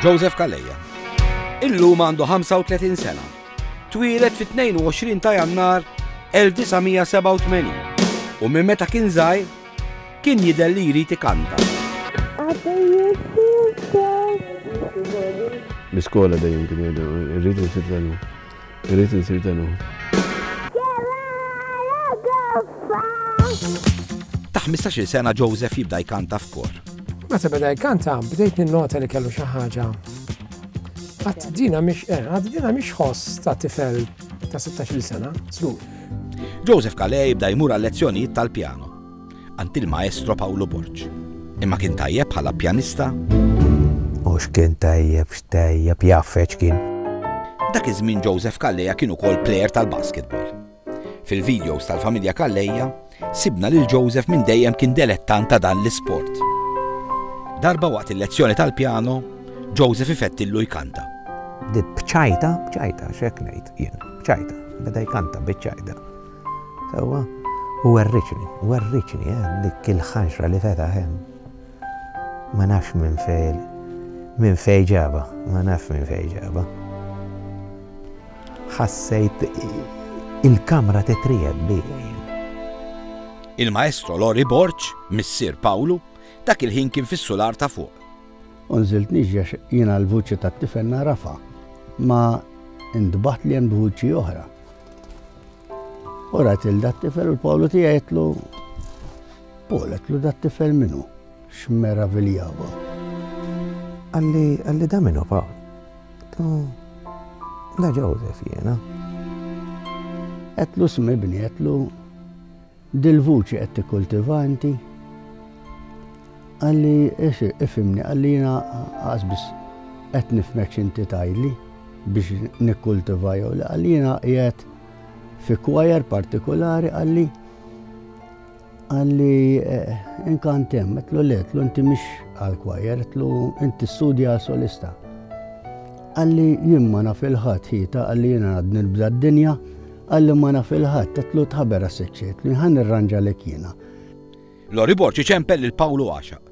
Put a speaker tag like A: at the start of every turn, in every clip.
A: Joseph Calleja. Illum għandu 35 sena. Twieled fit-22 ta' Jannar 1987 u minn meta kien żgħir kien jidher li jrid ikanta.
B: L-iskola dejjem kien jgħidu, irridu nitilgħu. Irrid insir denu.
A: Ta' 15-il sena Joseph jibda jkanta f'kor. Meta beda
C: jkanta, bdejt ninnota li kellu xi ħaġa. Għad dina mhix eh, għad dina mhix ħoss ta' tifel ta' 16-il sena, slu. Joseph
A: Kale jibda jmur għal lezzjonijiet tal-pjano. Għand il-Maestro Pawlu Borg. Imma kien tajjeb bħala pjanista? U
D: x'kien tajjeb, x'tajjeb, jaffeċ x'kien. Dak
A: iż-żmien Joseph Kalleja kien ukoll plejer tal-basketball. Fil-videos tal-familja Kalleja, sibna lil Joseph minn dejjem kien delettant ta' dan l-isport. Darba waqt il-lezzjoni tal-pjano, Joseph ifettillu jkanta. Bċajta,
D: bċajta, xek ngħid jien, bċajta, beda jkanta biċċajta. Sewwa, u werrietni, werrietni, eh, dik il-ħanxra li fetaħ hemm. Ma nafx minn fejn, minn fejn ġabha, ma nafx minn fejn ġabha. Ħassejt il-kamra titrijet bija Il-maestro
A: Lori Borċ, missier Pawlu, dak il-ħin kien fis-sular ta' fuq. Unżilt
E: niġġax jiena l-vuċi tat-tifel narafa, ma indbaħt li hemm vuċi oħra. U rat il dat tifel u l-Pawlu tija jitlu, Paul jitlu dat tifel minu, xmera viljava. Għalli,
D: għalli da minu Paul. Tu, da Joseph jena. Għetlu
E: smibni, għetlu, Dil-vuċi qed tikkultiva inti? Qal li, Ifhimni, qal li jiena qas biss qed nifhmek x'inti tgħidli biex nikkultiva jew le. Qal li jiena qiegħed fi kwajer partikulari qal li qal li eh, inkant hemm, qedlu le, qedlu inti mhix għal kwajer, qedlu inti studja għal solista. Qal li jien ma naf il-ħadd ħita qal li jiena għadni nibda d-dinja Qalli ma naf il-ħadd, qedtlu tħaber għas-siċċiet, li ħa nirranġalek jiena. Lori
A: Borg iċempel lil Pawlu għaxaq.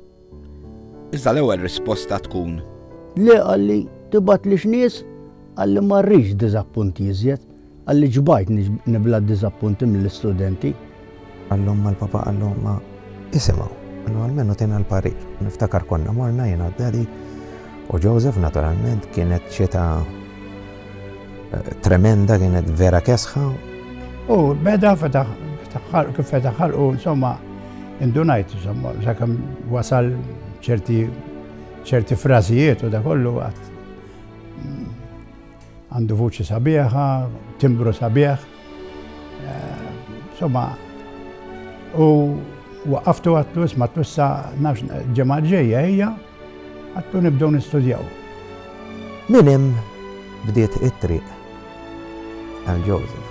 A: Iżda l-ewwel risposta tkun. Le qalli
E: tibgħatlix nies, qalli ma rridx diżappunti iżjed, qalli ġbajtni nibla d-diżappunti mill-istudenti, Qalhomma
D: l-Papa qalhomma, Isimgħu, inhu almenu tgħina l-parir. Niftakar konna morna jiena u Daddy u Joseph naturalment kienet xita tremenda kienet vera kesħa. U
F: beda fetaħ kif fetaħ ħalqu insomma indunajt insomma sakemm wasal ċerti ċerti frażijiet u da kollu għandu vuċi sabiħa, timbru sabiħ. Insomma, u waqaftu għatlu isma tussa nafx ġemma ġeja ejja għattu nibdew nistudjaw.
D: Min hemm bdiet it-triq għal Joseph.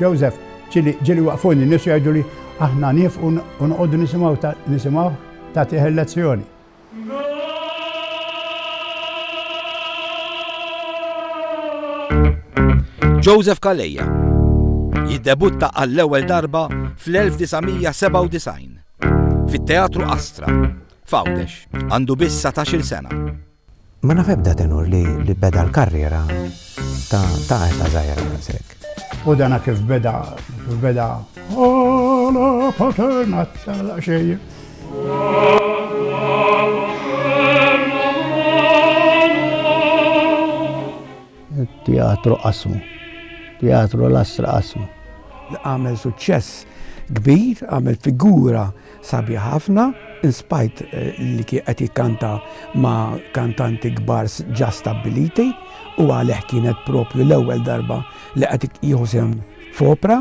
A: Joseph,
F: ġieli, ġieli waqfuni n-nies u jgħiduli aħna niefqu u noqogħdu nisimgħu ta', nisimgħuh tagħtih il-lezzjoni.
A: Joseph Calleja jiddebutta għall-ewwel darba fl-1997 fit-Teatru Astra f'Għawdex. Għandu biss satax-il sena. Ma naf
D: ebda tenur li beda l-karriera ta' età żgħira daqshekk. U dan kif
F: beda, kif beda. Għala paterna tala xejn.
E: Teatru qasmu. Teatru Lastra qasmu. Għamel
C: suċċess kbir, għamel figura Sabiħ ħafna, in spite li kien qed jikkanta ma' kantanti kbar ġa stabbiliti u għalih kienet propju l-ewwel darba li qed jieħu sehem f'opra.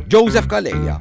A: Joseph Calleja,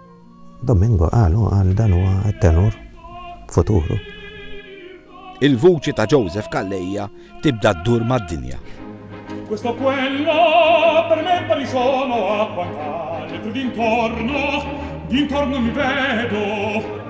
A: Domingo
D: qal u qal dan huwa t-tenur futuru.
A: Il-vuċi ta' Joseph Calleja tibda ddur mad-dinja. Questo o
G: quello per me pari sono a quant'altri d'intorno, d'intorno mi vedo.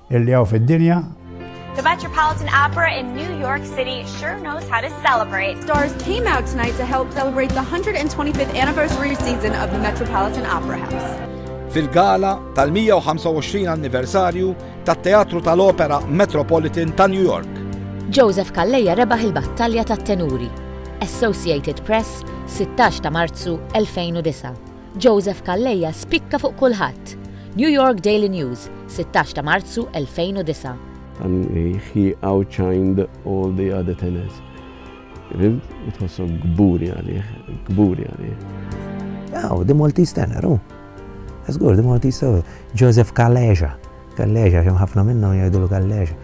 F: Illi hawn fid-dinja. The
H: Metropolitan Opera in New York City sure knows how to celebrate. Stars came out
I: tonight to help celebrate the 125th anniversary season of the Metropolitan Opera House. Fil-gala
A: tal-125 anniversarju tat-Teatru tal-Opera Metropolitan ta' New York. Joseph Kalleja
J: rebaħ il-battalja tat-tenuri. Associated Press, 16 ta' Marzu 2009. Joseph Calleja spikka fuq kulħadd. New York Daily News, 16 ta' Marzu 2009. And
B: he outshined all the other tenors. Rimt, tħossom gburi għalih, gburi għalih.
D: Aw, the Maltese tenor, u. Zgur, the Maltese tenor. Joseph Calleja. Calleja, jem ħafna minnu jgħidulu Calleja.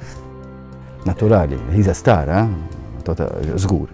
K: Naturali, he's a star, eh? Tota, zgur.